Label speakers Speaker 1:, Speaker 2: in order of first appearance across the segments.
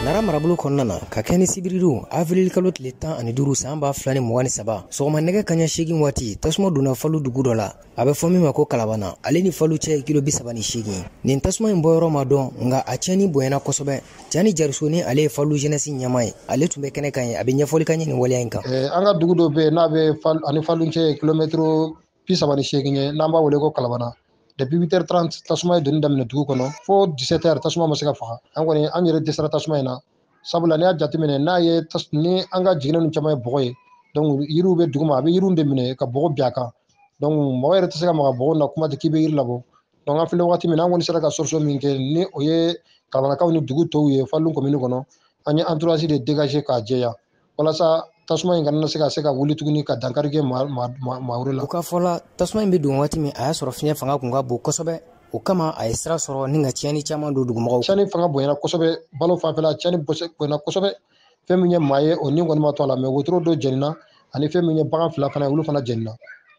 Speaker 1: Nara marabolo kɔnɔna na ka kɛ ni sibiridon avril kalo tile tan ani duuru san ba fila ni mugan ni saba sɔgɔma nɛgɛ kaɲɛ seegin waati tasuma donna falu dugu dɔ la a bɛ fɔ min ma ko kalabana ale ni falu cɛ ye kilo bi saba ni seegin nin tasuma in bɔyɔrɔ ma dɔn nka a tiɲɛni bonyana kosɛbɛ jani jariso ni ale ye falu jenɛsi ɲɛmaa ye ale tun bɛ kɛnɛ kan yen a bɛ ɲɛfɔli k'an ye nin waleya in kan an ka dugu dɔ bɛ yen
Speaker 2: n'a bɛ a ni falu cɛ ye kilomɛtiri bi saba ni seegin ye n'an b'a wele ko kalabana depuis huit heures trente tasuma ye donni daminɛ dugu kɔnɔ fo dix-sept heures tasuma ma se ka faga an kɔni an yɛrɛ dɛsɛra tasuma in na sabula n'i y'a jateminɛ n'a ye ni an ka jiginɛ ninnu caman ye bɔgɔ ye donc yiriw bɛ duguma a bɛ yiriw de minɛ ka bɔgɔ bin a kan donc mɔgɔ yɛrɛ tɛ se ka maga bɔgɔ na kuma tɛ k'i bɛ yiri labɔ donc an filɛ wagati min na an kɔni sera ka solution min kɛ ni o ye kalabanakaw ni dugu tɔw ye falu komini kɔnɔ an ye entourage de dégager k'a jɛya walasa tasuma in kana se ka se ka wuli tuguni ka dankari kɛ maa wɛrɛ la. u ka fɔ la
Speaker 1: tasuma in bɛ don waati min a y'a sɔrɔ fiɲɛ fanga tun ka bon kosɛbɛ o kama a ye sira sɔrɔ ni ka tiɲɛni caman don dugumɔgɔw. tiɲɛni fanga bonyana kosɛbɛ
Speaker 2: balo fanfɛla tiɲɛni bonyana kosɛbɛ fɛn min ye maa ye o ni kɔni ma to a la mais wotoro dɔ jɛnina ani fɛn min ye bagan fila fana ye olu fana jɛnina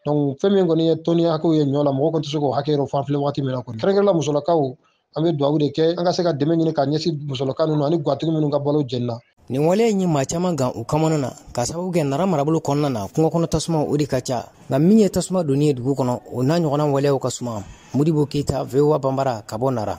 Speaker 2: donc fɛn min kɔni ye tɔni hakɛw ye ɲɔ la mɔgɔ kɔni tɛ se k'o hakɛ yɛrɛ fɔ an filɛ waati min na kɔni kɛrɛnkɛrɛnla musolakaw an bɛ dugawu de kɛ an ka se ka dɛmɛ ɲini ka ɲɛsin musolaka ninnu ani gatigi minnu ka balo jenina nin waleya in ye maa
Speaker 1: caman gan u kamana na k'a sababu kɛ nara marabolo kɔnɔna na kungo kɔnɔ tasuma o de ka ca nka min ye tasuma donni ye dugu kɔnɔ o n'a ɲɔgɔnna waleyaw ka suma modibo keyita VOA banbara ka bɔ nara